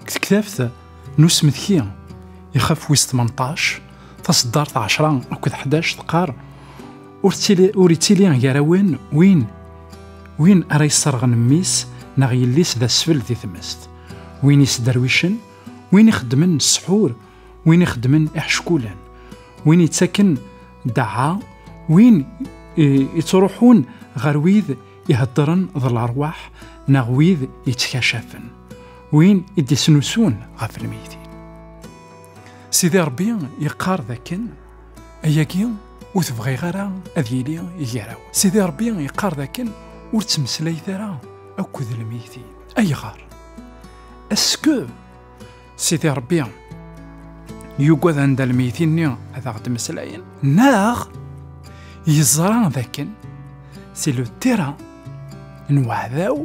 Deg tektabt n usmetki ixef wis 18 taseddart 10 akked 11 teqqar ur ttili ur ittili gar-awen win win ara yesserɣen mmi-s neɣ yelli-s d asfel di tmest win yesderwicen win ixeddmen ssḥur win ixeddmen iḥeckulen win yettaken ddaɛa win yettruḥun ɣer wid iheddren d larwaḥ neɣ wid yettkacafen win i d-isnusun ɣef lmeyti Sidi Rebbi yeqqar dakken ayagi ur tebɣiɣ ara ad yili gar-aw Sidi Rebbi yeqqar dakken ur ttmeslayet ara akked lmeyti ayɣer aske Sidi Rebbi yugad anda lmeyti-nni ad aɣ-d-meslayen neɣ yeẓra dakken si le terrain n waɛdaw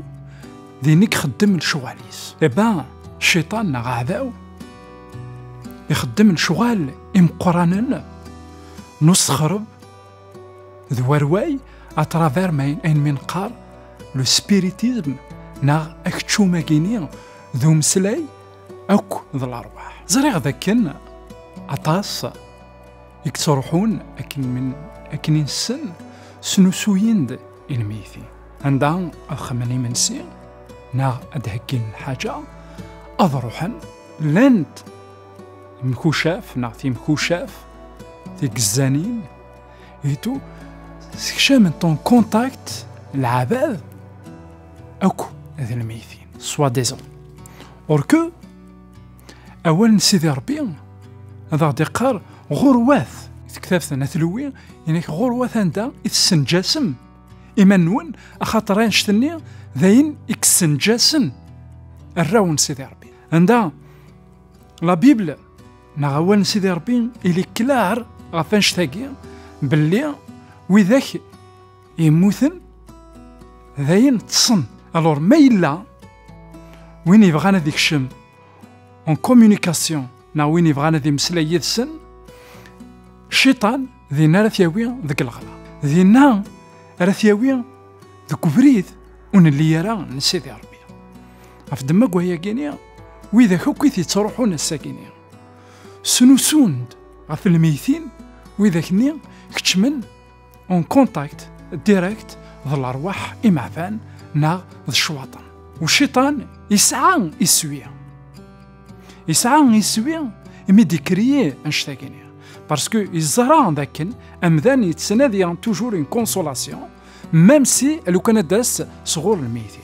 din i ixeddem lecɣal-is. Eba cciṭan neɣ aɛdaw ixeddem lecɣal imeqqranen n usexreb d warway à travers ma ayen nqar le spiritisme neɣ akeččum-agi-ni d umeslay akk d lerwaḥ ẓriɣ dakken aṭas i yettruḥun akken min akken i nessen snusuyin-d inmeyti anda ad xemmen imensi neɣ ad d-heggin lḥaǧa ad ruḥen llant Mkucaf neɣ timkucaf tigezzanin itu sekcament en contact lɛabad akk d lmeytin soit disant or que awal n Sidi Rebbi ad aɣ-d-iqqar ɣurwat tektabt n atlewi inek ɣurwat anda i tessenǧasem iman-nwen axaṭer anect-nni d ayen i yessenǧasen arraw n Sidi Rebbi anda La Bible neɣ awal n Sidi Rebbi ili klaar ɣef annect-agi belli widak yemmuten d ayen ṭṭsen alors ma yella win yebɣan ad ikcem en communication neɣ win yebɣan ad imeslay yid-sen cciṭan dinna ara t-yawi deg lɣela dinna ara t-yawi deg ubrid ur nelli ara n Sidi Rebbi Ɣef ddemma wayagini, widak akk i t-yettruḥun ass-agini, snusun-d ɣef lmeytin, widak-nni keččmen en contact direct d lerwaḥ imeɛfan neɣ d ccwaṭen. Uciṭan yesɛa iswi. Yesɛa iswi imi d-ikriye annect-agini. Parce que yeẓra dakken amdan yettnadi toujours une consolation, même si lukan ad d-tas sɣur lmeyti.